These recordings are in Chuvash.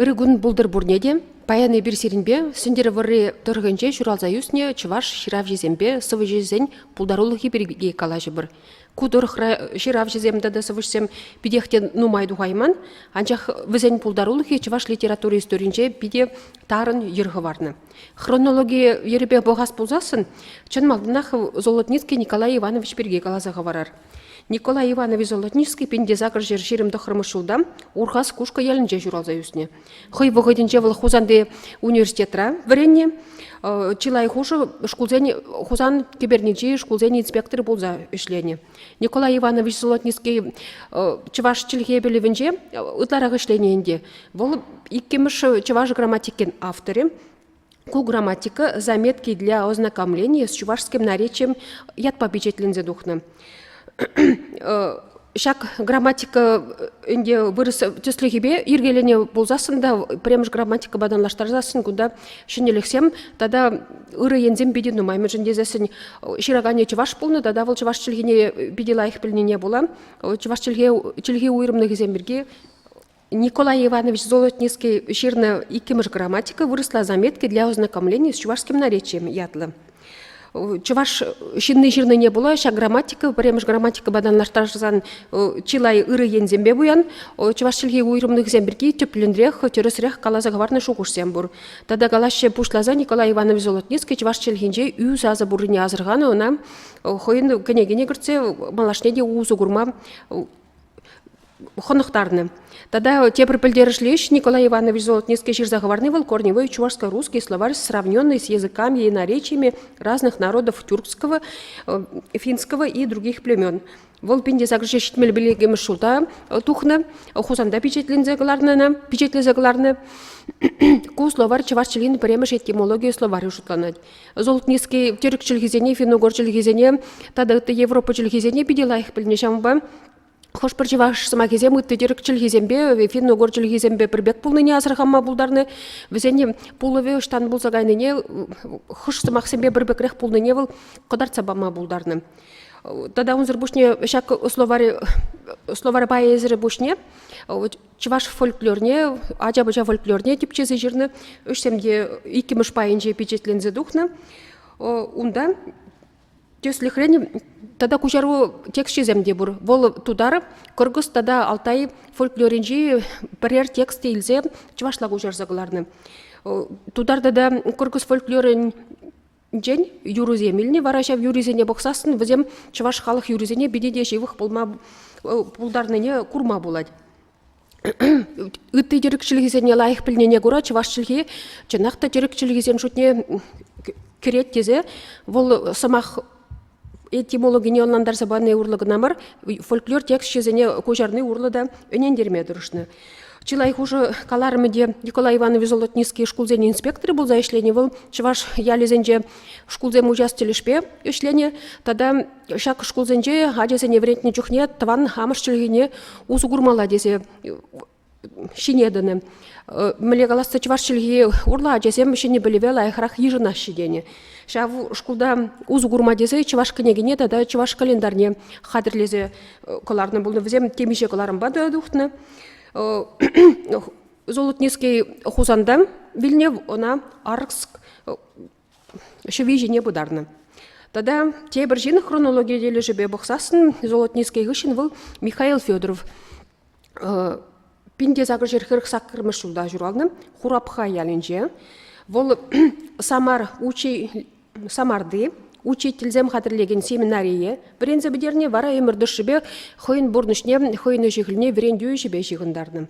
Ырӑ кун пултӑр пурне те. Паян эпир сирӗнпе Сӗнтӗрвӑрри тӑрӑхӗнче ҫуралса ӳснӗ чӑваш ҫыравҫисемпе сӑвӑҫӑсен пултарулӑхӗ пирки калаҫӑпӑр. Ку тӑрӑхра ҫыравҫӑсем тата сӑвӑҫсем питех те нумай тухайман, анчах вӗсен пултарулӑхӗ чӑваш литератури историйӗнче питӗ тарӑн йӗр хӑварнӑ. Хронологи йӗрӗпе пӑхас пулсассӑн, чӑн малтанах Золотницкий Николай Иванович пирки каласа хӑварар. Николай Иванович Золотницкий Пиндесакӑр ҫӗр ҫирӗм тӑххӑрмӗш ҫулта Урхас Кушкӑ ялӗнче ҫуралса ӳснӗ. Хӑй вӑхӑтӗнче вӑл Хусанти университетра вӗреннӗ. Чылай хушӑ шкулсен Хусан кӗперничи шкулсен инспекторӗ пулса ӗҫленӗ. Николай Иванович Золотницкий чӑваш чӗлхе пӗлӗвӗнче ытларах ӗҫленӗ ӗнтӗ. Вӑл иккӗмӗш чӑваш грамматикин авторӗ. Ку грамматика заметки для ознакомления с чувашским наречием ятпа печатленсе тухнӑ. Ҫак грамматика ӗнтӗ вырӑс тӗслӗхӗпе йӗркеленӗ пулсассӑн та пӗрремӗш грамматикӑпа танлаштарсассӑн кунта ҫӗнӗлӗхсем тата ырӑ енсем питӗ нумай, мӗншӗн тесессӗн ҫыраканӗ чӑваш пулнӑ тата вӑл чӑваш чӗлхине питӗ лайӑх пӗлнине пула чӑваш чӗлхи чӗлхи уйрӑмлӑхӗсем пирки Николай Иванович Золотницкий ҫырнӑ иккӗмӗш грамматика вырӑсла заметки для ознакомления с чувашским наречием ятлӑ. Чӑваш ҫынни ҫырнине пула ҫак грамматика, пӗрремӗш грамматикӑпа танлаштарсан чылай ырӑ енсемпе пуян. Чӑваш чӗлхи уйрӑмлӑхӗсем пирки тӗплӗнрех, тӗрӗсрех каласа хӑварнӑ шухӑшсем пур. Тата калаҫҫӗ пуҫласа Николай Иванович Золотницкий чӑваш чӗлхинче ӳ сасӑ пуррине асӑрханӑ, ӑна хӑйӗн кӗнекине кӗртсе малашне те усӑ курма хӑнӑхтарнӑ. Тата тепӗр пӗлтерӗшлӗ ӗҫ Николай Иванович Золотницкий ҫырса хӑварни вӑл корневой чувашско-русский словарь, сравненный с языками и наречиями разных народов тюркского, финского и других племен. Вӑл пин тесакӑрҫа ҫитмел пӗлекемӗш ҫулта тухнӑ, Хусанта пичетленсе кӑларнӑ, пичетлесе кӑларнӑ. Ку словарь чӑваш чӗлхин пӗрремӗш этимологийӗ словарӗ шутланать. Золтнинский тӗрек чӗлхисене, финогор чӗлхисене тата ытти Европа чӗлхисене питӗ лайӑх пӗлнӗ. Ҫавӑнпа хӑш-пӗр чӑваш сӑмахӗсем ытти тӗрек чӗлхисемпе, финногор чӗлхисемпе пӗр пек пулнине асӑрханма пултарнӑ. Вӗсене пулӑвӗ ӑҫтан пулса кайнине, хӑш сӑмахсемпе пӗр пекрех пулнине вӑл кӑтартса пама пултарнӑ. Тата унсӑр пуҫне ҫак словари, словарь пайӗсӗр пуҫне Чӑваш фольклорне, ача-пӑча фольклорне типчесе ҫырнӑ. Ӗҫсем те иккӗмӗш пайӗнче пичетленсе тухнӑ. Унта тӗслӗхрен тата куҫару тексчӗсем те пур. Вӑл Тутаров, Кӑркӑс тата Алтай фольклорӗнчи пӗрер текст илсе чӑвашла куҫарса кӑларнӑ. Тутар тата Кӑркӑс фольклорӗн Тен, юрӑсем илни вара ҫав юрисене пӑхсассӑн вӗсем чӑваш халӑх юрисене питӗ те ҫывӑх пулма пултарнине курма пулать. ытти тӗрӗк чӗлхисене лайӑх пӗлнине кура чӑваш чӗлхи чӑнах та тӗрӗк чӗлхисен шутне кӗрет тесе вӑл сӑмах этимологине ӑнлантарса пани урлӑ кӑна мар, фольклор тексчӗсене куҫарни урлӑ та ӗнентерме тӑрӑшнӑ. Чылай хушӑ каларӑмӗ те Николай Иванович Золотницкий шкулсен инспекторӗ пулса ӗҫленӗ. Вӑл чӑваш ялӗсенче шкулсем учас тӗлӗшпе ӗҫленӗ тата ҫак шкулсенче ачасене вӗрентнӗ чухне тӑван амӑш чӗлхине усӑ курмалла тесе ҫине тӑнӑ. Мӗнле каласса чӑваш чӗлхи урлӑ ачасем ҫӗнӗ пӗлӗве лайӑхрах йышӑнаҫҫӗ тенӗ. Ҫав шкулта усӑ курма тесе чӑваш кӗнекине тата чӑваш календарьне хатӗрлесе кӑларнӑ пулнӑ. Вӗсем темиҫе кӑларӑмпа та тухнӑ. Золотницкий Хусанта вилнӗ, ӑна Аркск ҫӑви ҫине пытарнӑ. Тата тепӗр ҫын хронологи тӗлӗшӗпе пӑхсассӑн Золотницкий хыҫҫӑн вӑл Михаил Федоров пин те сакӑршер хӗрӗх саккӑрмӗш ҫулта ҫуралнӑ Хурапха ялӗнче. Вӑл Самар учи Самарти учительсем хатӗрлекен семинарие вӗренсе пӗтерни вара ӗмӗр тӑршшӗпе хӑйӗн пурнӑҫне хӑйӗн ӗҫӗ-хӗлне вӗрентӳ ӗҫӗпе ҫыхӑнтарнӑ.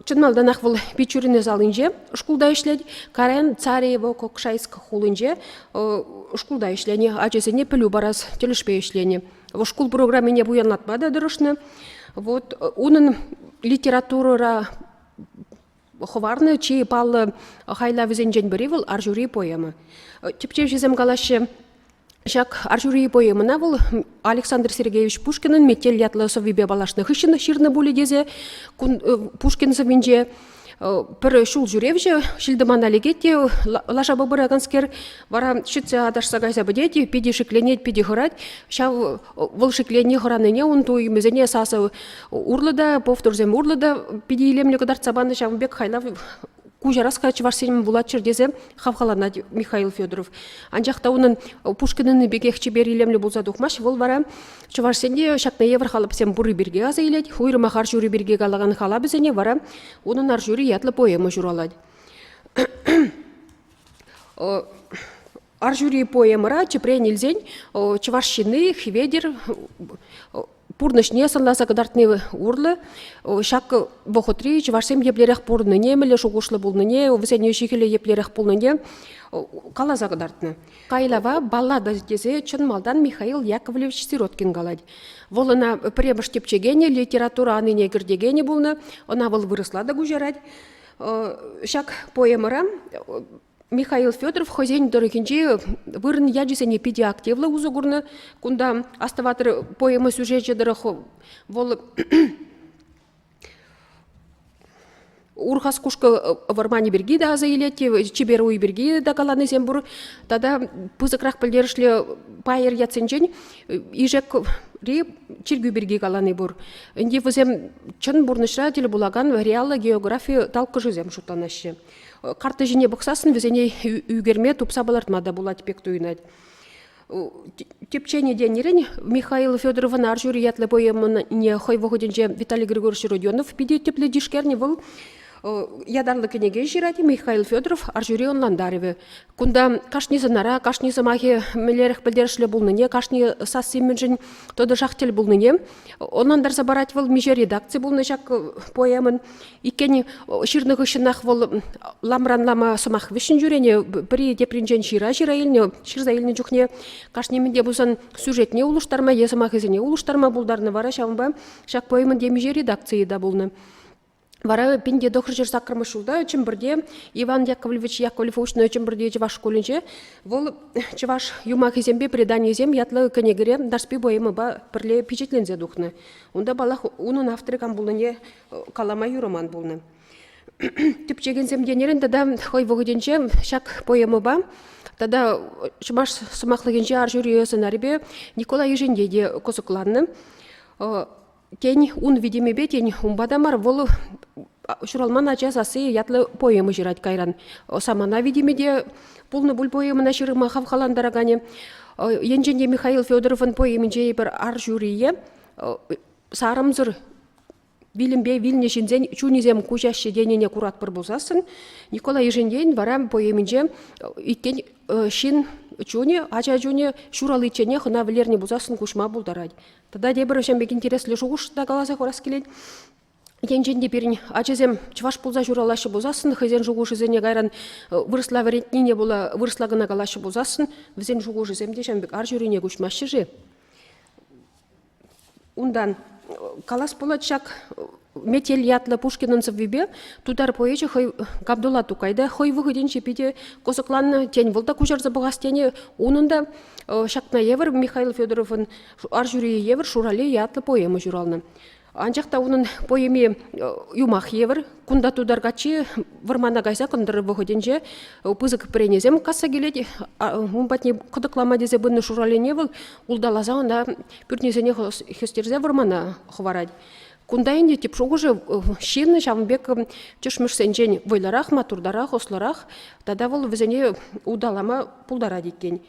Чӑн малтанах вӑл Пичурина салинче шкулта ӗҫлет, Карен Цареево Кокшайск хулинче шкулта ӗҫленӗ, ачасене пӗлӳ парас тӗлӗшпе ӗҫленӗ. Вӑл шкул программине пуянлатма та тӑрӑшнӑ. Вот унӑн литературӑра хӑварнӑ чи паллӑ хайлавӗсенчен пӗри вӑл Арҫури поэма. Тӗпчевҫӗсем калаҫҫӗ, Ҫак Арҫури поэмӑна вӑл Александр Сергеевич Пушкинӑн «Метель» ятлӑ сӑввипе паллашнӑ хыҫҫӑн ҫырнӑ пулӗ тесе кун Пушкин сӑввинче пӗр ҫул ҫӳревҫӗ ҫил-тӑмана лекет те лашапа пыраканскер вара ҫитсе аташса кайса пӗтет, питӗ шикленет, питӗ хӑрать. Ҫав вӑл шикленни хӑранине ун туйӑмӗсене сасӑ урлӑ та, повторсем урлӑ та питӗ илемлӗ кӑтартса панӑ. Ҫавӑн пек хайлав куҫараска Чӑваш Енӗн вулаччӑр тесе хавхаланать Михаил Федоров. Анчах та унӑн Пушкинӑнни пекех чипер илемлӗ пулса тухмасть. Вӑл вара Чӑвашсене ҫакна евӗр халапсем пурри пирки аса илет. Уйрӑмах ар ҫури пирки калакан халапӗсене вара унӑн ар ҫури ятлӑ поэма ҫуралать. Ар ҫури поэмӑра тӗпрен илсен чӑваш ҫынни Хведер пурнӑҫне сӑнласа кӑтартни урлӑ ҫак вӑхӑтри чӑвашсем еплерех пурӑннине, мӗнле шухӑшлӑ пулнине, вӗсен ҫи-хӗлӗ еплерех пулнине каласа кӑтартнӑ. Кайлава баллада тесе чӑн малтан Михаил Яковлевич Сироткин калать. Вӑл ӑна пӗрремӗш тӗпчекенӗ, литература анине кӗртекенӗ пулнӑ, ӑна вӑл вырӑсла та куҫарать. Ҫак поэмӑра Михаил Федоров хӑйсен тӑрӑхӗнчи вырӑн ячӗсене питӗ активлӑ усӑ курнӑ. Кунта Астӑватӑр поэма сюжечӗ тӑрӑх вӑл Урхас кушкӑ вӑрманӗ пирки те аса илет, чипер уй пирки те каланисем пур. Тата пысӑкрах пӗлтерӗшлӗ пайӑр ятсенчен Ишекри чиркӳ пирки калани пур. Ӗнтӗ вӗсем чӑн пурнӑҫра тӗл пулакан реаллӑ географи талккӑшӗсем шутланаҫҫӗ. Карттӑ ҫине пӑхсассӑн вӗсене ӳкерме тупса палӑртма та пулать пек туйӑнать. Типчене тенӗрен Михаил Федоровӑн Арҫури ятлӑ поэмине хӑй вӑхӑтӗнче Виталий Григорьевич Родионов питӗ тӗплӗ тишкернӗ вӑл ятарлӑ кӗнеке ҫырать Михаил Федоров Арҫури ӑнлантарӑвӗ. Кунта кашни сӑнара, кашни сӑмахӗ мӗнлерех пӗлтерӗшлӗ пулнине, кашни сасси мӗншӗн тӑтӑшах тӗл пулнине Ӑнлантарса парать вӑл миҫе редакци пулнӑ ҫак поэмӑн. Иккен ҫырнӑ хыҫҫӑнах вӑл ламран лама сӑмах вӗҫҫӗн ҫӳренӗ, пӗри тепринчен ҫыра ҫыра илнӗ, ҫырса илнӗ чухне кашни мӗн те пулсан сюжетне улӑштарма е сӑмахӗсене улӑштарма пултарнӑ, вара ҫавӑнпа ҫак поэмӑн темиҫе редакцийӗ те пулнӑ. Вара пин те тӑхӑрҫӗр саккӑрмӗш ҫулта Чӗмпӗрте Иван Яковлевич Яковлев Уҫнӑ Чӗмпӗрти чӑваш шкулӗнче вӑл чӑваш юмахӗсемпе преданийӗсем ятлӑ кӗнекере Нарспи поэмӑпа пӗрле пичетленсе тухнӑ. Унта, паллах, унӑн авторӗ кам пулнине калама юраман пулнӑ. Тӗпчекенсем тенӗрен тата хӑй вӑхӑтӗнче ҫак поэмӑпа тата чӑваш сӑмахлӑхӗнче ар ҫури сӑнарӗпе Николай Ешенте те кӑсӑкланнӑ Тен, ун витӗмӗпе, тен, унпа та мар, вӑл ҫуралман ача сасси ятлӑ поэма ҫырать кайран. Самана витӗмӗ те пулнӑ пуль поэмӑна ҫырма хавхалантараканӗ. Енчен те Михаил Федоровӑн поэминче эпир ар ҫурие сарӑмсӑр вилӗмпе вилнӗ ҫынсен чунӗсем куҫаҫҫӗ тенине куратпӑр пулсассӑн, Николай Ишентейӗн вара поэминче иккен ҫын чунӗ, ача чунӗ ҫураличченех ӑна вӗлернӗ пулсассӑн куҫма пултарать. Тата тепӗр вӗҫем пек интереслӗ шухӑш та каласа хурас килет. Енчен те пирӗн ачасем чӑваш пулса ҫуралаҫҫӗ пулсассӑн хӑйсен шухӑшӗсене кайран э, вырӑсла вӗрентнине пула вырӑсла кӑна калаҫҫӗ пулсассӑн вӗсен шухӑшӗсем те ҫавӑн пек ар ҫурине куҫмаҫҫӗ-ши? Унтан э, калас пулать ҫак э, Метел ятлӑ Пушкинӑн сӑввипе тутар поэчӗ хӑй Габдулла Тукай та хӑй вӑхӑтӗнче питӗ кӑсӑкланнӑ. Тен, вӑл та куҫарса пӑхас тенӗ. Унӑн та ҫакна евӗр Михаил Федоровӑн Арҫури евӗр Шурале ятлӑ поэма ҫуралнӑ. Анчах та унӑн поэми юмах евӗр. Кунта тутар каччи вӑрмана кайса кӑнтӑр вӑхӑтӗнче пысӑк пӗренесем касса килет. Ун патне кӑтӑклама тесе пынӑ Шуралене вӑл улталаса ӑна пӳртнесене хӗстерсе вӑрмана хӑварать. Кунта ӗнтӗ тӗп шухӑшӗ ҫыннӑ ҫавӑн пек тӗшмӗшсенчен вӑйлӑрах, маттуртарах, ӑслӑрах тата вӑл вӗсене улталама пултарать иккен.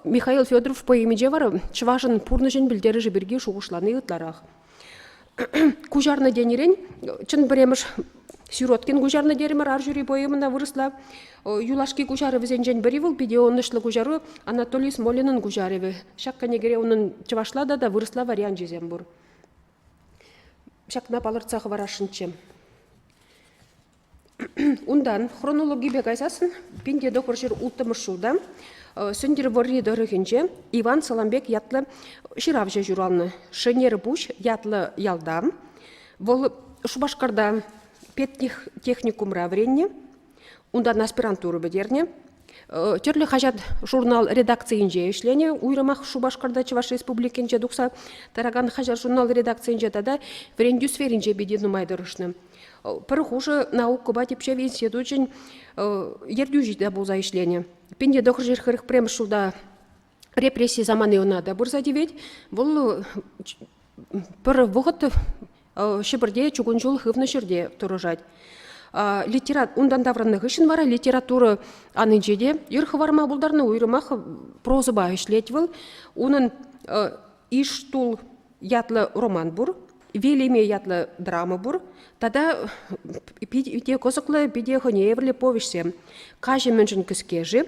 Михаил Федоров поэминче вара чӑвашӑн пурнӑҫӗн пӗлтерӗшӗ пирки шухӑшлани ытларах. Куҫарнӑ тенӗрен, чӑн пӗрремӗш Сироткин куҫарнӑ терӗмӗр ар ҫури поэмӑна вырӑсла. Юлашки куҫарӑвӗсенчен пӗри вӑл питӗ ӑнӑҫлӑ куҫару Анатолий Смолинӑн куҫарӑвӗ. Ҫак кӗнекере унӑн чӑвашла тата вырӑсла варианчӗсем пур. ҫакна палӑртса хӑварасшӑнччӗ. Унтан хронологипе кайсассӑн пин те тӑхӑр ҫыр улттӑмӗш ҫулта Сӗнтӗрвӑрри тӑрӑхӗнче Иван Саламбек ятлӑ ҫыравҫӑ ҫуралнӑ. Шӗнерпуҫ ятлӑ ялта. Вӑл Шупашкарта педтехникумра вӗреннӗ, унтан аспирантура пӗтернӗ. Тӗрлӗ хаҫат-журнал редакцийӗнче ӗҫленӗ. Уйрӑмах Шупашкарта, Чӑваш Республикинче тухса тӑракан хаҫат-журнал редакцийӗнче тата вӗрентӳ сферинче питӗ нумай тӑрӑшнӑ. Пӗр хушӑ наукӑпа типчев институчӗн ертӳҫи те пулса ӗҫленӗ. Пин те тӑхӑр ҫыр хӗрӗх пӗрремӗш ҫулта репрессии самани ӑна та пырса тивет. Вӑл пӗр вӑхӑт Ҫӗпӗрте чукун ҫул хывнӑ ҫӗрте тӑрӑшать. Литература унтан таврӑннӑ хыҫҫӑн вара литература анинче те ир хӑварма пултарнӑ уйрӑмах прозӑпа ӗҫлет вӑл. Унӑн Иштул ятлӑ роман пур, Вилеме ятлӑ драма пур тата питӗ кӑсӑклӑ питӗ хӑйне евӗрлӗ повеҫсем. Каҫӑ мӗншӗн кӗске-ши?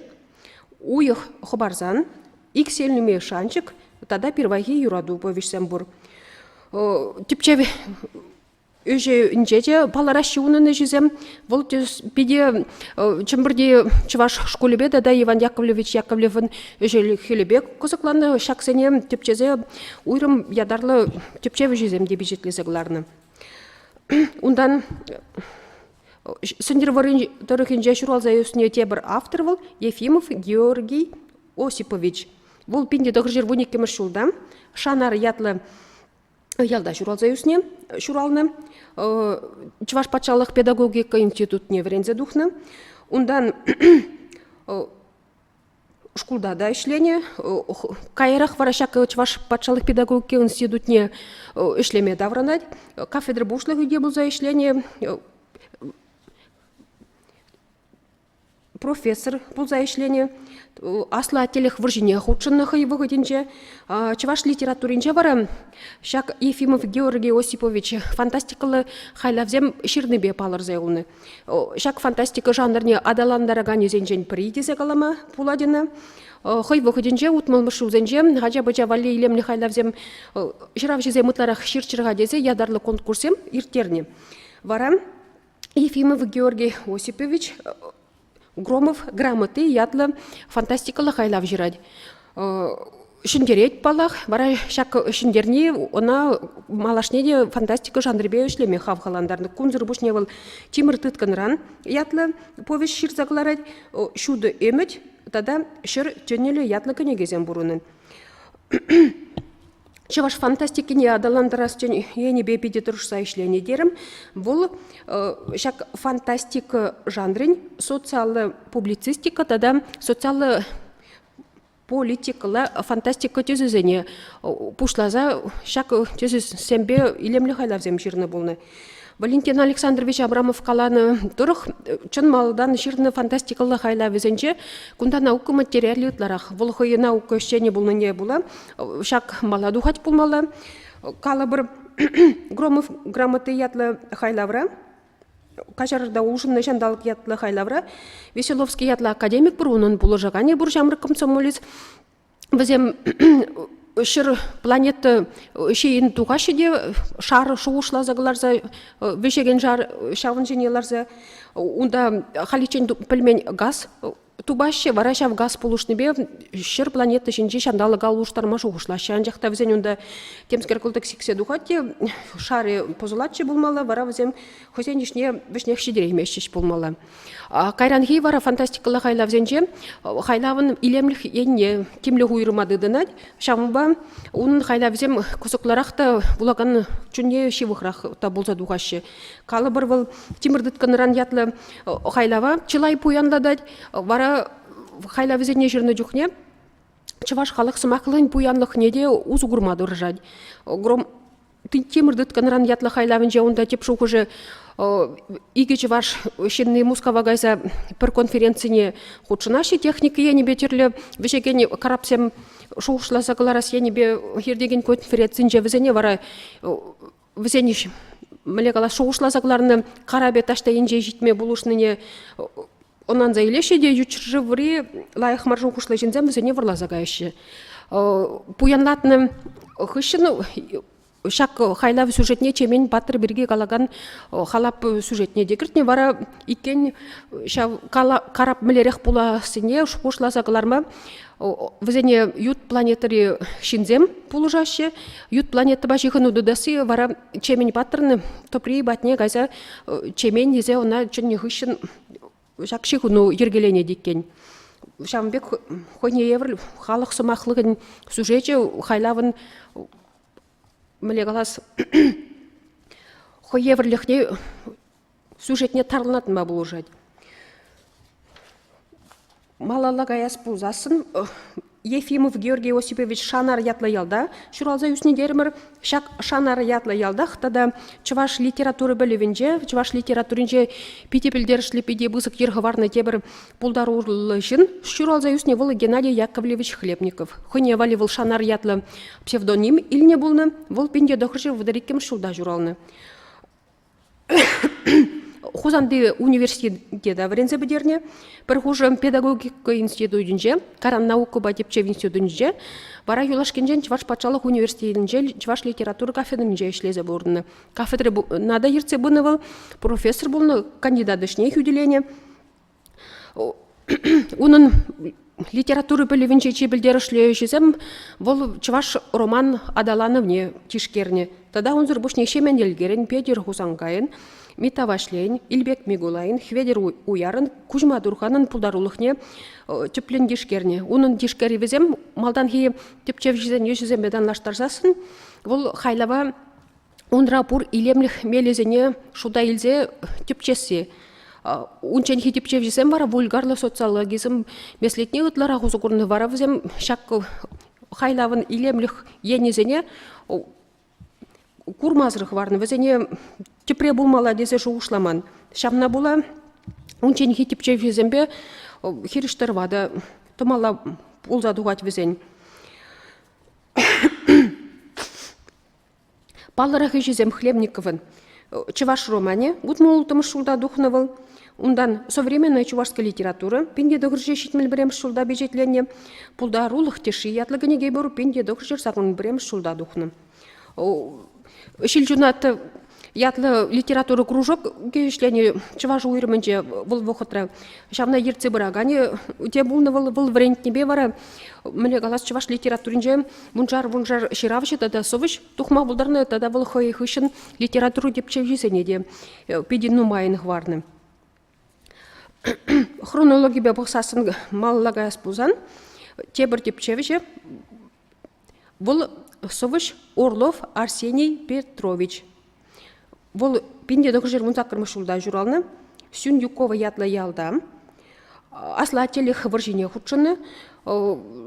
Уйӑх хӑпарсан иксӗлми шанчӑк тата пирвайхи юрату повеҫсем пур. Типчев ӗҫӗнче те палӑраҫҫӗ унӑн ӗҫӗсем. Вӑл питӗ Чӗмпӗрти чӑваш шкулӗпе тата Иван Яковлевич Яковлевӑн ӗҫӗ-хӗлӗпе кӑсӑкланнӑ. Ҫаксене тӗпчесе уйрӑм ятарлӑ тӗпчев ӗҫӗсем те пичетлесе кӑларнӑ. Унтан Сӗнтӗрвӑррин тӑрӑхӗнче ҫуралса ӳснӗ тепӗр автор вӑл Ефимов Георгий Осипович. Вӑл пин тӑхӑрҫӗр вун иккӗмӗш ҫулта Шанар ятлӑ ялта ҫуралса ӳснӗ, ҫуралнӑ. Чӑваш патшалӑх педагогика институтне вӗренсе тухнӑ. Унтан Шкулта та ӗҫленӗ. Каярах вара ҫак Чӑваш патшалӑх педагогика институтне ӗҫлеме таврӑнать. Кафедра пуҫлӑхӗ те пулса ӗҫленӗ. Профессор пулса ӗҫленӗ. Аслӑ Аттелӗх вӑрҫине хутшӑннӑ хӑй вӑхӑтӗнче. Чӑваш литературинче вара ҫак Ефимов Георгий Осипович фантастикӑллӑ хайлавсем ҫырнипе палӑрса юлнӑ. Ҫак фантастика жанрне аталантараканӗсенчен пӗри тесе калама пулать ӑна. Хӑй вӑхӑтӗнче утмӑлмӗш ҫулсенче ача-пӑча валли илемлӗ хайлавсем ҫыравҫӑсем ытларах ҫырччӑр-ха тесе ятарлӑ конкурссем ирттернӗ. Вара Ефимов Георгий Осипович Громов грамоти ятлӑ фантастикӑллӑ хайлав ҫырать. Ҫӗнтерет паллах, вара ҫак ҫӗнтерни ӑна малашне те фантастика жанрӗпе ӗҫлеме хавхалантарнӑ. Кунсӑр пуҫне вӑл Тимӗр тыткӑнран ятлӑ повеҫ ҫырса кӑларать, Ҫутӑ ӗмӗт тата Ҫӗр тӗнӗлӗ ятлӑ кӗнекесем пур унӑн. Чӑваш фантастикине аталантарас енӗпе питӗ тӑрӑшса ӗҫленӗ терӗм. Вӑл ҫак фантастика жанрӗн социаллӑ публицистика тата социаллӑ политикӑлла фантастика тӗсӗсене пуҫласа ҫак тӗсӗсемпе илемлӗ хайлавсем ҫырнӑ пулнӑ. Валентин Александрович Абрамов каланӑ тӑрӑх, чӑн малтан ҫырнӑ фантастикӑллӑ хайлавӗсенче кунта наука материалӗ ытларах. Вӑл хӑйӗн наука ӗҫченӗ пулнине пула ҫак мала тухать пулмалла. Калӑпӑр, Громов грамоти ятлӑ хайлавра каҫарта улшӑннӑ ҫанталӑк ятлӑ хайлавра Веселовский ятлӑ академик пур унӑн пулӑшаканӗ пур ҫамрӑк комсомолец вӗсем ҫӗр планета ҫийӗн тухаҫҫӗ те шар шухӑшласа кӑларса вӗҫекен шар ҫавӑн ҫине ларса унта халиччен пӗлмен газ тупаҫҫӗ вара ҫав газ пулӑшнипе ҫӗр планета ҫинчи ҫанталӑка улӑштарма шухӑшлаҫҫӗ анчах та вӗсен унта темскер кӑлтӑк сиксе тухать те шарӗ пӑсӑлатчӗ пулмалла вара вӗсем хӑйсен ӗҫне вӗҫнех ҫитерейместчӗҫ пулмалла Кайранхи вара фантастикӑлла хайлавсенче хайлавӑн илемлӗх енне тимлӗх уйрӑма тытӑнать. Ҫавӑнпа унӑн хайлавӗсем кӑсӑклӑрах та вулакан чунне ҫывӑхрах та пулса тухаҫҫӗ. Калӑпӑр, вӑл Тимӗр тыткӑнран ятлӑ хайлава чылай пуянлатать. Вара хайлавӗсене ҫырнӑ чухне чӑваш халӑх сӑмахлӑхӗн пуянлӑхне те усӑ курма тӑрӑшать. Тимӗр тыткӑнран ятлӑ хайлавӗнче унта тӗп шухӑшӗ икӗ чӑваш ҫынни Мускава кайса пӗр конференцине хутшӑнаҫҫӗ техника енӗпе тӗрлӗ вӗҫекен карапсем шухӑшласа кӑларас енӗпе иртекен конференцинче вӗсене вара вӗсен мӗнле калас шухӑшласа кӑларнӑ карапӗ таҫта енче ҫитме пулӑшнине ӑнланса илеҫҫӗ те ют ҫӗршыври лайӑх мар шухӑшлӑ ҫынсем вӗсене вӑрласа каяҫҫӗ. Пуянлатнӑ хыҫҫӑн ҫак хайлав сюжетне Чемен паттӑр пирки калакан халап сюжетне те кӗртнӗ. Вара иккен ҫав карап мӗнлерех пулассине шухӑшласа кӑларма вӗсене ют планетӑри ҫынсем пулӑшаҫҫӗ. Ют планетӑпа ҫыхӑну тытасси вара Чемен паттӑрӑн тӑпри патне кайса Чемен тесе ӑна чӗннӗ хыҫҫӑн ҫак ҫыхӑну йӗркеленет иккен. Ҫавӑн пек хӑйне евӗр халӑх сӑмахлӑхӗн сюжечӗ хайлавӑн мӗнле калас хӑй евӗрлӗхне сюжетне тарлатма пулӑшать. Малалла каяс пулсассӑн Ефимов Георгий Осипович Шанар ятлӑ ялта ҫуралса ӳснӗ терӗмӗр. Ҫак Шанар ятлӑ ялтах тата чӑваш литература пӗлӗвӗнче, чӑваш литературинче питӗ пӗлтерӗшлӗ, питӗ пысӑк йӗр хӑварнӑ тепӗр пултаруллӑ ҫын. Ҫуралса ӳснӗ вӑл Геннадий Яковлевич Хлебников. Хӑйне валли вӑл Шанар ятлӑ псевдоним илнӗ пулнӑ. Вӑл 1900 вӑтӑр иккӗмӗш ҫулта ҫуралнӑ. Хусанти университета вӗренсе пӗтернӗ. Пӗр хушӑ педагогика институтӗнче, таран наукӑпа тӗпчев институтӗнче, вара юлашкинчен Чӑваш патшалӑх университетӗнче чӑваш литература кафедринче ӗҫлесе пурӑннӑ. Кафедра на та ертсе пынӑ вӑл, профессор пулнӑ, кандидат ӗҫне хӳтӗленӗ. Унӑн литература пӗлӗвӗнче чи пӗлтерӗшлӗ ӗҫӗсем вӑл чӑваш роман аталанӑвне тишкернӗ. Тата унсӑр пуҫне Ҫемен Елкерӗн, Петӗр Хусанкайӑн, Митта Ваҫлейӗн, Илпек Микулайӑн, Хветӗр Уярӑн, Куҫма Турханӑн пултарулӑхне тӗплӗн тишкернӗ. Унӑн тишкерӗвӗсем малтанхи тӗпчевҫӗсен ӗҫӗсемпе танлаштарсассӑн вӑл хайлава Унра пур илемлӗх мелӗсене шута илсе тӗпчесси. Унчченхи тӗпчевҫӗсем вара вульгарлӑ социологизм меслетне ытларах усӑ курнӑ. Вара вӗсем ҫак хайлавӑн илемлӗх енӗсене курмасӑрах хӑварнӑ. Вӗсене тӗпре пулмалла тесе шухӑшламан. Ҫавна пула унчченхи тӗпчевҫӗсемпе хирӗҫ тӑрӑва та тӑмалла пулса тухать вӗсен. Паллӑрах ӗҫӗсем Хлебниковӑн Чӑваш романӗ, вутмӑл-улттӑмӗш ҫулта тухнӑ вӑл. Унтан «Современная чувашская литература» пин те тӑхӑрҫӗ ҫитмӗл пӗрремӗш ҫулта пичетленнӗ, «Пултарулӑх тӗшши» ятлӑ кӗнеке пур пин те тӑхӑрҫӗ сакӑн пӗрремӗш ҫулта тухнӑ. Ҫилҫунат ятлӑ литература кружок ӗҫленӗ чӑваш уйрӑмӗнче вӑл вӑхӑтра. Ҫавна ертсе пыраканӗ те пулнӑ вӑл. Вӑл вӗрентнипе вара мӗне калас чӑваш литературинче Вуншар-вуншар ҫыравҫӑ тата сӑвӑҫ тухма пултарнӑ тата вӑл хӑй хыҫҫӑн литература тӗпчевҫисене те питӗ нумайӑн хӑварнӑ. Хронологипе пӑхсассӑн малалла каяс пулсан, тепӗр тӗпчевҫӗ вӑл сӑвӑҫ Орлов Арсений Петрович. Вӑл пин те тӑхӑршер вун саккӑрмӗш ҫулта ҫуралнӑ. Сюньюкова ятлӑ ялта. Аслӑ аттелӗх вӑрҫине хутшӑннӑ.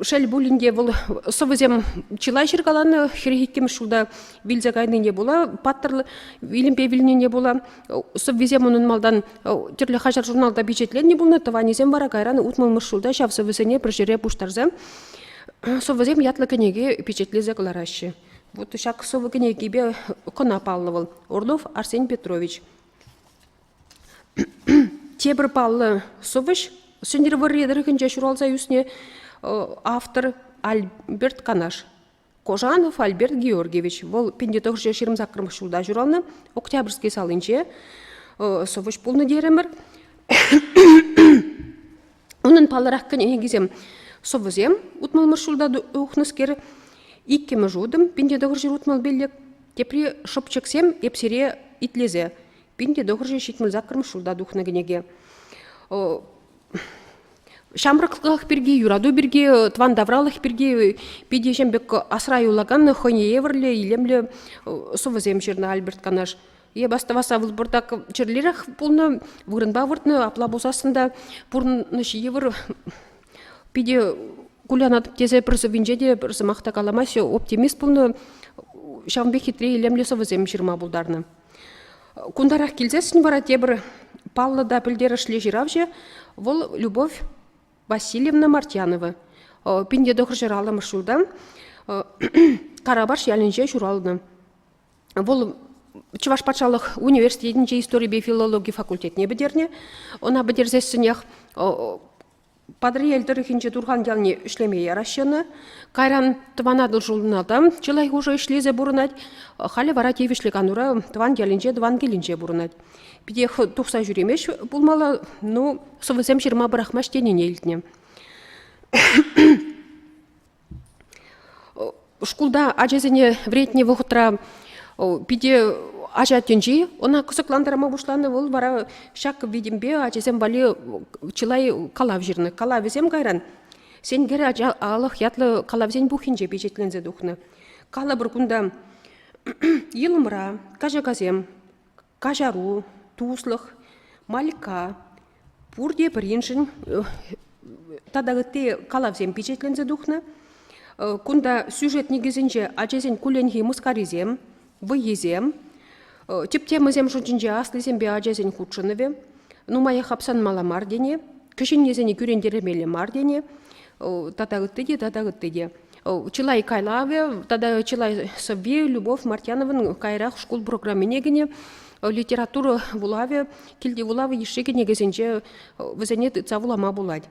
Шел пулин те, вӑл сӑвӑсем чылай ҫыркаланӑ. Хӗр иккӗмӗш ҫулта вилсе кайнине пула, паттӑр вилӗмпе вилнине пула сӑввисем унӑн малтан тӗрлӗ хаҫат-журналта пичетленнӗ пулнӑ. Тӑванӗсем вара кайран утмӑлмӗш ҫулта ҫав сӑвӑсене пӗр ҫӗре пуҫтарса сӑвӑсем ятлӑ кӗнеке пичетлесе кӑлараҫҫӗ. Вот ҫак сӑвӑ кӗнекипе кӑна паллӑ вӑл Орлов Арсен Петрович. Тепӗр паллӑ сӑвӑҫ Сӗнтӗрвӑрри тӑрӑхӗнче ҫуралса ӳснӗ автор Альберт Канаш. Кожанов Альберт Георгиевич. Вӑл 1900 ҫырӑмсаккӑрмӗш ҫулта ҫуралнӑ, Октябрьский салинче сӑвӑҫ пулнӑ терӗмӗр. Унӑн паллӑрах кӗнекисем сӑвӑсем утмӑлмӗш ҫулта ухнӑскер, иккӗмӗш утӑм пинте тӑхӑрҫӗр утмӑлпелле, тепри шӑпчӑксем эп сире итлесе пинте тӑхӑрҫӗр ҫитмӗл саккӑрмӗш ҫулта тухнӑ кӗнеке. Ҫамрӑклӑх пирки, юрату пирки, тӑван тавралӑх пирки питӗ ҫем пек асра юлакан хӑйне евӗрлӗ, илемлӗ сӑвӑсем ҫырнӑ Альберт Канаш. Е бастамаса вырпурта чирлерех пулнӑ, вырӑнпа выртнӑ, апла пулсассӑн та пурнӑҫ йывӑр питӗ кулянать тесе пӗр сӑввинче те пӗр сӑмах та каламаҫҫӗ. Оптимист пулнӑ, ҫавӑн пек хитре илемлӗ сӑвӑсем ҫырма пултарнӑ. Кунтарах килсессӗн вара тепӗр паллӑ та пӗлтерӗшлӗ ҫыравҫӑ вӑл Любовь Васильевна Мартьянова. Пин тӑхӑрҫӑр аллӑмӗш ҫултан Карапаш ялӗнче ҫуралнӑ. Вӑл Чӑваш патшалӑх университетӗнче историпе филологи факультетне пӗтернӗ. Ӑна пӗтерсессӗнех Патӑрьел тӑрӑхӗнче Турхан ялне ӗҫлеме яраҫҫӗ Кайран Тӑван Атӑл ҫулына та чылай хушӑ ӗҫлесе пурӑнать. Халӗ вара тивӗҫлӗ канура тӑван ялӗнче, тӑван килӗнче пурӑнать. Питех тухса ҫӳремест пулмалла, ну, сӑвӑсем ҫырма пӑрахмасть тенине илтнӗ. Шкулта ачасене вӗретнӗ вӑхӑтра питӗ ача тӗнчи ӑна кӑсӑклантарма пуҫланӑ. Вӑл вара ҫак витӗмпе ачасем валли чылай калав ҫырнӑ. Калавӗсем кайран Сенкер ача алӑх ятлӑ калавсен пуххинче пичетленсе тухнӑ. Калӑпӑр кунта йӑлӑмра, качакасем, каҫару, туслӑх, Малькка, пурте пӗриншӗн тата ытти калавсем пичетленсе тухнӑ. Кунта сюжет никӗсӗнче ачасен кулленхи мыскарисем, вӑййисем, тӗп-темӑсем шутӗнче аслисемпе ачасен хутшӑнӑвӗ, нумаях апсанмалла мар тени, кӗҫӗннисене кӳрентермелле мар тени тата ытти те тата ытти те. Чылай калавӗ тата чылай сӑвви Любовь Мартьяновӑн каярах шкул программине кӗнӗ литература вулавӗ, килти вулав йышши кӗнекесенче вӗсене тытса вулама пулать.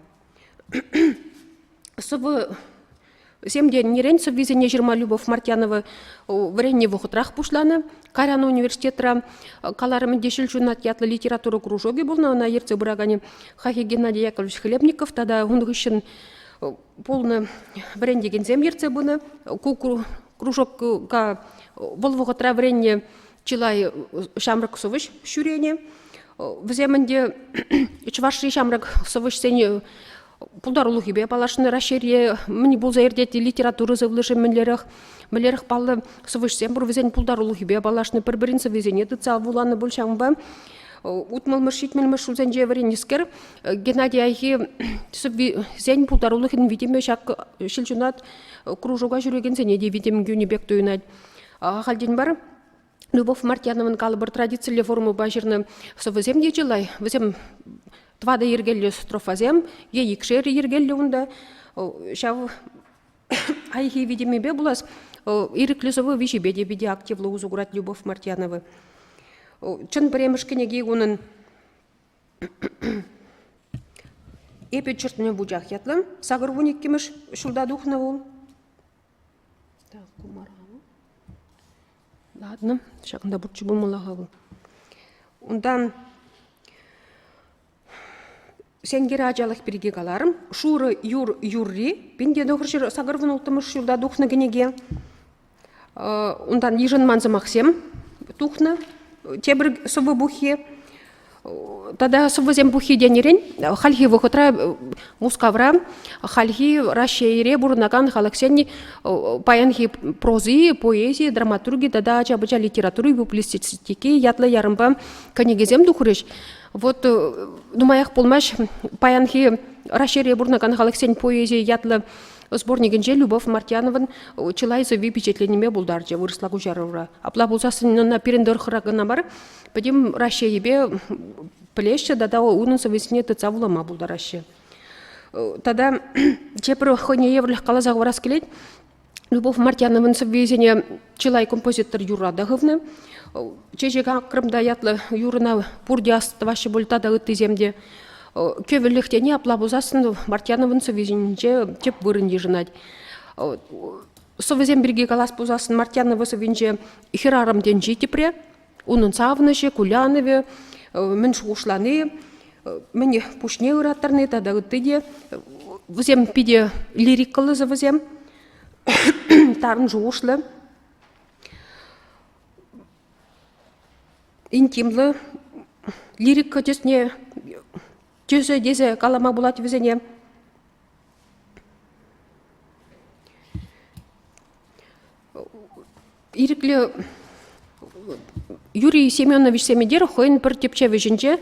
Сӑвӑсем нерен сӑввисене ҫырма Любовь Мартьянова вӗреннӗ вӑхӑтрах пуҫланӑ. Карян университетра каларӑмӗн те ҫил ҫунат ятлӑ литература кружокӗ пулнӑ, ӑна ертсе пыраканӗ Хафи Геннадий Яковлевич Хлебников тата ун хыҫҫӑн пулнӑ вӗрентекенсем ертсе пынӑ. Ку кружокка вӑл вӑхӑтра вӗреннӗ чылай ҫамрӑк сӑвӑҫ ҫӳренӗ. Вӗсем ӗнтӗ Чӑвашри ҫамрӑк сӑвӑҫсен пултарулӑхӗпе паллашнӑ. Раҫҫейре мӗн пулса иртет литература сывлӑшӗ мӗнлерех, мӗнлерех паллӑ сӑвӑҫсем пур вӗсен пултарулӑхӗпе паллашнӑ, пӗр-пӗрин сӑввисене тытса вуланӑ пуль ҫавӑнпа. Утмӑлмӗш-ҫитмӗлмӗш ҫулсенче вӗреннӗскер Геннадий Айхи сӑввисен пултарулӑхӗн витӗмӗ ҫак ҫилҫунат кружока ҫӳрекенсене те витӗм кӳнӗ пек туйӑнать. Ахальтен мар Любовь Мартьяновӑн калӑпӑр традицилле формӑпа ҫырнӑ сӑвӑсем те чылай. Вӗсем тӑватӑ йӗркеллӗ строфасем е икшер йӗркеллӗ унта. Ҫав Хайхи витӗмӗпе пулас, ирӗклӗ сӑвӑ виҫипе те питӗ активлӑ усӑ курать Любовь Мартьянова. Чӑн пӗрремӗш кӗнеки унӑн Эпӗ чертне вучах ятлӑ. Сакӑр вун иккӗмӗш ҫулта тухнӑ вул. Так, кумара вул. Ладно, ҫакӑнта пурччӗ пулмалла-ха вӑл. Унтан Сенкер ачалӑх пирки каларӑм. Шурӑ юр юрри. Пин те тӑхӑр ҫӗр сакӑр вун улттӑмӗш ҫулта тухнӑ кӗнеке. Унтан йышӑнман сӑмахсем тухнӑ. Тепӗр сӑвӑ пуххи. Тата сӑвӑсем пуххи тенӗрен хальхи вӑхӑтра Мускавра хальхи Раҫҫейре пурӑнакан халӑхсен паянхи прози, поэзи, драматурги тата ача-пӑча литератури, публицистики ятлӑ ярӑмпа кӗнекесем тухрӗҫ. Вот э, нумаях пулмасть паянхи Раҫҫейре пурӑнакан халӑхсен поэзийӗ ятлӑ сборникӗнче Любовь Мартьянован чылай сӑвви пичетленнине пултарчӗ вырӑсла куҫарура. Апла пулсассӑн ӑна пирӗн тӑрӑхра кӑна мар, пӗтӗм Раҫҫейӗпе пӗлеҫҫӗ тата унӑн сӑввисене тытса вулама пултараҫҫӗ. Тата тепӗр хӑйне евӗрлӗх каласа хӑварас килет. Любовь Мартьяновӑн сӑввисене чылай композитор юрра та хывнӑ. Чечек акрӑмта ятлӑ юрӑна пурте астӑваҫҫӗ пуль тата ыттисем те. Кӗвӗлӗхтене апла пулсассӑн Мартьяновӑн сӑввисенче тӗп вырӑн йышӑнать. Сӑвӑсем пирки калас пулсассӑн Мартьянова сӑввинче хӗрарӑм тӗнчи тепре. Унӑн савӑнӑҫӗ, кулянӑвӗ, мӗн шухӑшлани мӗне пуҫне ыраттарни тата ытти те вӗсем питӗ лирикӑллӑ сӑвӑсем, тарӑн шухӑшлӑ, интимлӑ лирика тӗсне тӗсӗ тесе калама пулать вӗсене. Ирӗклӗ Юрий Семеновичсем эдер хӑйӗн пӗр тӗпчев ӗҫӗнче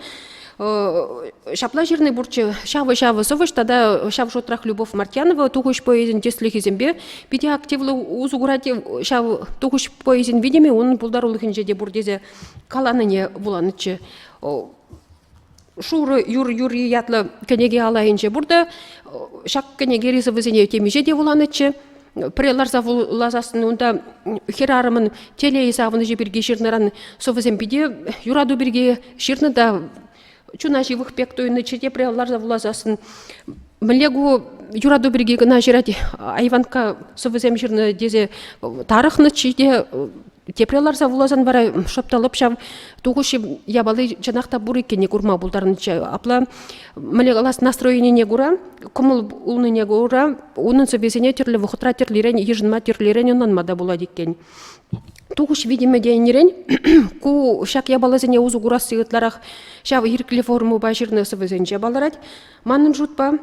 ҫапла ҫырнӑ пурччӗ ҫавӑ-ҫавӑ сӑвӑҫ тата ҫав шутрах Любовь Мартьянова тухӑҫ поэзин тӗслӗхӗсемпе питӗ активлӑ усӑ курать ҫав тухӑҫ поэзин витӗмӗ унӑн пултарулӑхӗнче те пур тесе каланине вуланӑччӗ Шурӑ юр юрри ятлӑ кӗнеке алайӗнче пурта. Ҫак кӗнеке рисовӑсене темиҫе те вуланӑччӗ. Пӗрре ларса вуласассӑн унта хӗрарӑмӑн телей савӑнӑҫӗ пирки ҫырнӑран сӑвӑсем питӗ юрату пирки ҫырнӑ та чуна ҫывӑх пек туйӑннӑччӗ. Тепре ларса вуласассӑн мӗнле ку юрату пирки кӑна ҫырать айванкка сӑвӑсем ҫырнӑ тесе тарӑхнӑччӗ те Тепре ларса вуласан вара шӑп та лӑп ҫав тухӑҫ япали чӑнах та пур иккенне курма пултарнӑччӗ. Апла мӗне калас настроенине кура, кӑмӑл улнине кура унӑн сӑввисене тӗрлӗ вӑхӑтра тӗрлӗрен йышӑнма, тӗрлӗрен ӑнланма та пулать иккен. Тухӑҫ витӗмӗ тенӗрен ку ҫак япаласене усӑ курасси ытларах ҫав ирӗклӗ формӑпа ҫырнӑ сӑвӑсенче палӑрать. Манӑн шутпа,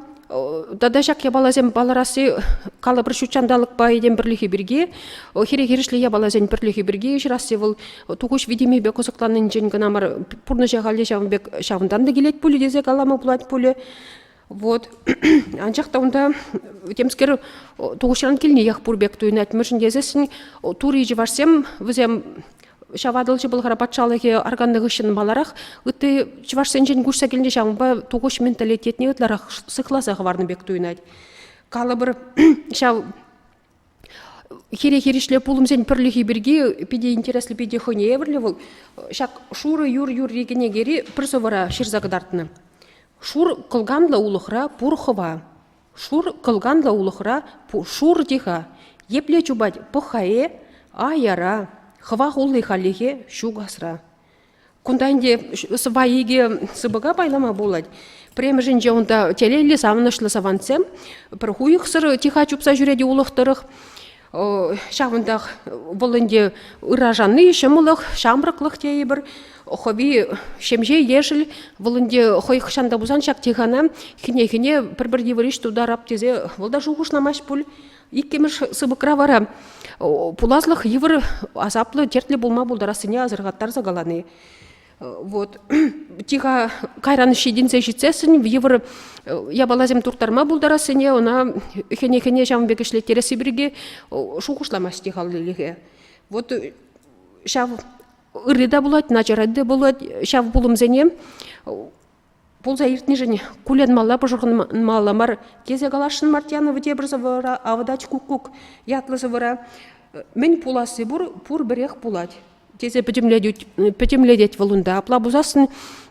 тата ҫак япаласем палӑрасси калӑпӑр ҫут ҫанталӑкпа этем пӗрлӗхӗ пирки, хире-хирӗҫле япаласен пӗрлӗхӗ пирки ҫырасси вӑл тухӑҫ витӗмӗпе кӑсӑкланнинчен кӑна мар, пурнӑҫа халӗ ҫавӑн пек ҫавӑнтан та килет пулӗ тесе калама пулать пулӗ. Вот. Анчах та унта темскер тухӑҫран килниех пур пек туйӑнать. Мӗншӗн тесессӗн тури чӑвашсем вӗсем Ҫав Атӑлҫи Пӑлхар патшалӑхӗ арканнӑ хыҫҫӑн маларах ытти чӑвашсенчен куҫса килнӗ ҫавӑнпа тухӑҫ менталитетне ытларах сыхласа хӑварнӑ пек туйӑнать. Калӑпӑр, ҫав хире-хирӗҫле пулӑмсен пӗрлӗхи пирки питӗ интереслӗ, питӗ хӑйне евӗрлӗ вӑл. Ҫак шурӑ юр юрри кӗнекери пӗр сӑвӑра ҫырса кӑтартнӑ. Шур кӑлканлӑ улӑхра пур хӑва. Шур кӑлканлӑ улӑхра шур те-ха, епле чупать пӑх-ха э, а яра, хӑва хулли халлӗхе ҫук асра. Кунта ӗнтӗ сӑпай икӗ сыпӑка пайлама пулать. Премӗшӗнче унта телейлӗ савӑнӑҫлӑ савантсем пӗр хуйӑхсӑр тиха чупса ҫӳрет улӑх тӑрӑх. Ҫавӑнтах вӑл ӗнтӗ ыражанни ҫӑмӑллӑх, ҫамрӑклӑх тейӗпӗр. Хӑви ҫемҫе ешӗл, вӑл ӗнтӗ хӑй хӑҫан та пулсан ҫак тихана хӗне-хӗне пӗр-пӗр йывӑриш тутарап тесе вӑл та шухӑшламасть пуль. Иккӗмӗш сыпӑкра вара пуласлӑх йывӑр, асаплӑ, тертлӗ пулма пултарассине асӑрхаттарса калани. Вот тиха кайран ҫитӗнсе ҫитсессӗн йывӑр япаласем турттарма пултарассине ӑна хӗне-хӗне ҫавӑн пек ӗҫлеттересси пирки шухӑшламасть тихаллилӗхе. Вот ҫав ырри те пулать, начарать те пулать ҫав пулӑмсене пулса иртнишӗн кулянмалла пӑшӑрханмалла мар тесе каласшӑн Мартьянова тепӗр сӑвӑра «Авӑтач куккук» ятлӑ сӑвӑра мӗн пуласси пур пур пӗрех пулать тесе пӗтӗмлетет вӑл унта апла пулсассӑн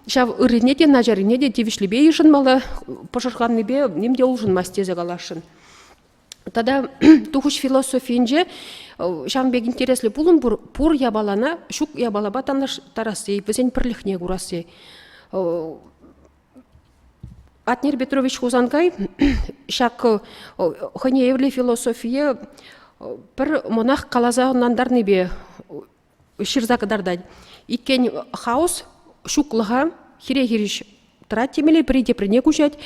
ҫав ыррине те начаррине те тивӗҫлипе йышӑнмалла пӑшӑрханнипе ним те улшӑнмасть тесе каласшӑн. тата тухӑҫ философийӗнче ҫавӑн пек интереслӗ пулӑм пур пур япалана ҫук япалапа танлаштарасси вӗсен пӗрлӗхне курасси Атнер Петрович Хусанкай ҫак хӑйне евӗрлӗ философие пӗр монах каласа ӑнлантарнипе ҫырса кӑтартать. Иккен хаос ҫуклӑха хире-хирӗҫ тӑрать темелле пӗри теприне куҫать.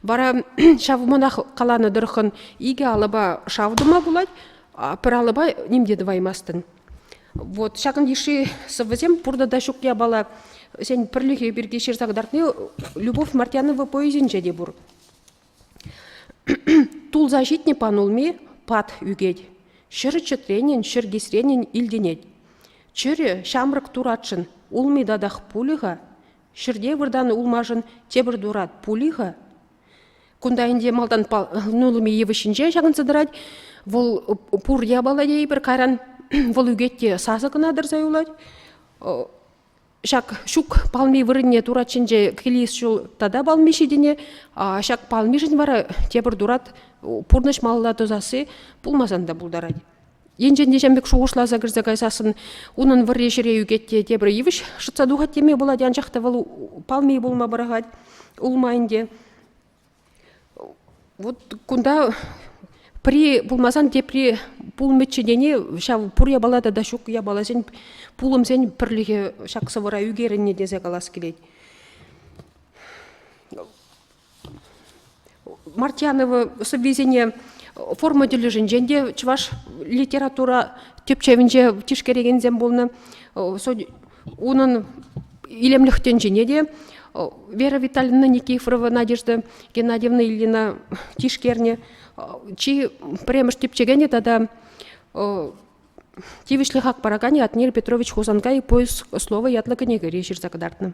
Вара ҫав мӑнах каланӑ тӑрӑххӑн икӗ алӑпа шав тума пулать, пӗр алӑпа ним те тӑваймастӑн. Вот ҫакӑн йышши сӑввӑсем пурта та ҫук япала. Сен пӗрлӗхӗ пирки ҫырса кӑтартни Любовь Мартьянова поэзинче те пур. Тулса ҫитнӗ панулми пат ӳкет, ҫӗр чӗтренин, ҫӗр кисренин илтӗнет. Чӗрӗ ҫамрӑк туратшӑн улми татах пулӗ-ха? Ҫӗрте выртан улмашӑн тепӗр турат пулӗ-ха? Кунта ӗнтӗ малтан панулми йывӑҫҫинче ҫакӑнса тӑрать. Вӑл пур япала тейӗпӗр кайран. Вӑл ӳкет те сасӑ кӑна тӑрса юлать. Ҫак ҫук палми вырӑнне турат ҫинче килес ҫул тата палми ҫитӗне, ҫак палмишӗн вара тепӗр турат пурнӑҫ малла тӑсасси пулмасан та пултарать. Енчен те ҫын пек шухӑшласа кӗрсе кайсассӑн унӑн вӑрри ҫӗре ӳкет те тепӗр йывӑҫ шӑтса тухать теме пулать, анчах та вӑл палми пулма пӑрахать улма ӗнтӗ. Вот кунта пӗри пулмасан тепри пулмӗччӗ тени ҫав пур япала тата ҫук япаласен пулӑмсен пӗрлӗхӗ ҫак сӑвӑра ӳкерӗннӗ тесе калас килет. Мартьянова сӑввисене форма тӗлӗшӗнчен те чӑваш литература тӗпчевӗнче тишкерекенсем пулнӑ. Унӑн илемлӗх тӗнчине те Вера Витальевна Никифорова Надежда Геннадьевна Ильина тишкернӗ. Чи пӗрремӗш типчекенӗ тата тивӗҫлӗ хак параканӗ Атнер Петрович Хусанкай «Поиск слова» ятлӑ кӗнекере ҫырса кӑтартнӑ.